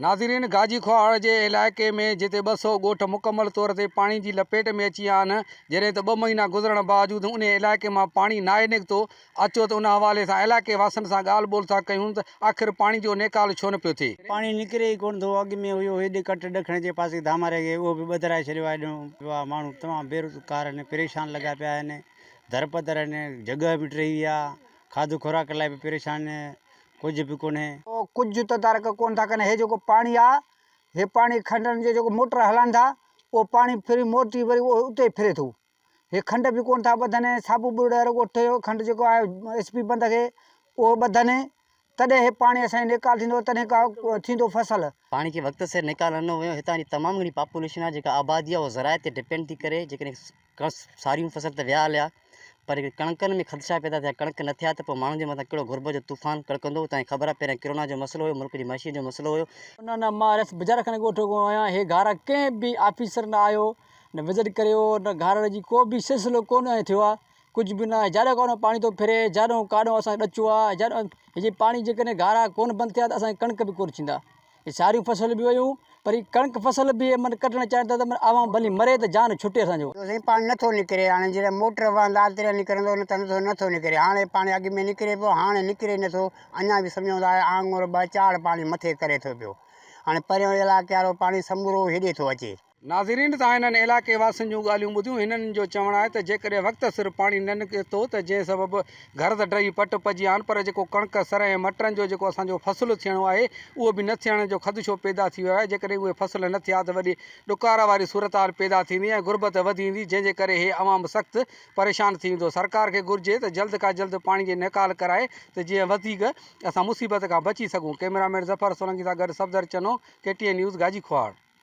ناظرين گاجي کوهاڙ جي علائقي ۾ جتي ٻه سؤ ڳوٺ مڪمل طور تي پاڻي جي لپيٽ ۾ اچي ويا آهن جڏهن ته ٻه مهينا گذرڻ باوجود انهي علائقي مان پاڻي ناهي نڪتو اچو ته ان حوالي سان علائقي واسين سان ڳالهه ٻولهه ٿا ڪيون ته آخر پاڻي جو نيڪال ڇو نه پيو ٿئي. پاڻي نڪري ئي ڪونه ٿو اڳ ۾ هيو هيڏي ڪٽ ڏکڻ جي پاسي ڌاما رهي گئي اهو به ٻڌرائي ڇڏيو آهي ڏنو پيو آهي ماڻهو تمام بيروزگار آهن پريشان لڳا پيا آهن درپدر آهن جڳهه به ڊهي ويا کاڌو خوراڪ لاء به پريشان ڪجهه به ڪونهي. ڪجهه تدارڪ ڪونه ٿا ڪن. هي جيڪو پاڻي آ، هي پاڻي کنڊن جي جيڪو موٽر هلائن ٿا، اهو پاڻي ڦري موٽي وري اهو اتي ئي ڦري ٿو. هي کنڊ به ڪونه ٿا ٻڌن ۽ صابو ٻرڙي رڳو ٺهيو کنڊ جيڪو آهي ايس پي بند کي اهو ٻڌن تڏهن هي پاڻي اسان جي نيڪال ٿيندو تڏهن ڪا ٿيندو فصل. پاڻي کي وقت سر نيڪال نه ڏنو ويو. هتان جي تمام گهڻي پاپوليشن آ جيڪا آبادي آ اهو زراعت تي ڊپينڊ ٿي ڪري جيڪڏهن ڪڻس ساريون فصل ته ويا هليا پر ڪڻڪن ۾ خدشا پيدا ٿيا ڪڻڪ نه ٿيا ته پوء ماڻهن جي مٿان ڪهڙو غربت جو طوفان ڪڙڪندو اتان جي خبر آهي پهريان ڪرونا جو مسئلو هيو ملڪ جي معيشت جو مسئلو هيو انهن نه مان رس بجار کان ڳوٺ کان آهيان هي گهارا ڪنهن به آفيسر نه آيو نه وزٽ ڪريو نه گهارڙ جي ڪو به سلسلو ڪونه ائين ٿيو آهي ڪجهه به نه جاڏو ڪاڏو پاڻي ٿو ڦري جاڏو ڪاڏو اسان ڏچو آهي جاڏو هي جي پاڻي جيڪڏهن گهارا ڪونه بند ٿيا ته اسان جي ڪڻڪ به ڪونه ٿيندا ساريون فصل به ويون پر هي ڪڻڪ فصل به من ڪڍڻ چاهين ٿا ته عوام ڀلي مري ته جان ڇٽي اسان جو. سائين پاڻي نٿو نڪري هاڻي جڏهن موٽر وهندا تڏهن نڪرندو نه ته نٿو نٿو نڪري هاڻي پاڻي اڳ ۾ نڪري پيو هاڻي نڪري نٿو اڃا به سمجهون ٿا آڱر ٻه چاڙهه پاڻي مٿي ڪري ٿو پيو هاڻي پريون علائقي وارو پاڻي سمورو هيڏي ٿو اچي ناظرين تان انهن علائقي واسين جون ڳالهيون ٻڌيون هنن جو چوڻ آهي ته جيڪڏهن وقت سر پاڻي نه نڪري ٿو ته جنهن سبب گهرز ڊهي پٽ پئجي هان پر جيڪو ڪڻڪ سرهه ۽ مٽرن جو جيڪو اسان جو فصل ٿيڻو آهي اهو به نه ٿيڻ جو خدشو پيدا ٿي ويو آهي جيڪڏهن اهي فصل نه ٿيا ته وڏي ڏڪار واري صورتحال پيدا ٿيندي ۽ غربت وڌي ويندي جنهن جي ڪري هي عوام سخت پريشان ٿي ويندو سرڪار کي گهرجي ته جلد کان جلد پاڻي جي نيڪال ڪرائي ته جيئن وڌيڪ اسان مصيبت کان بچي سگهون ڪئميرا مين ظفر سولنگي سان گڏ Safdar Channo K T N news Gaji Khuhawar.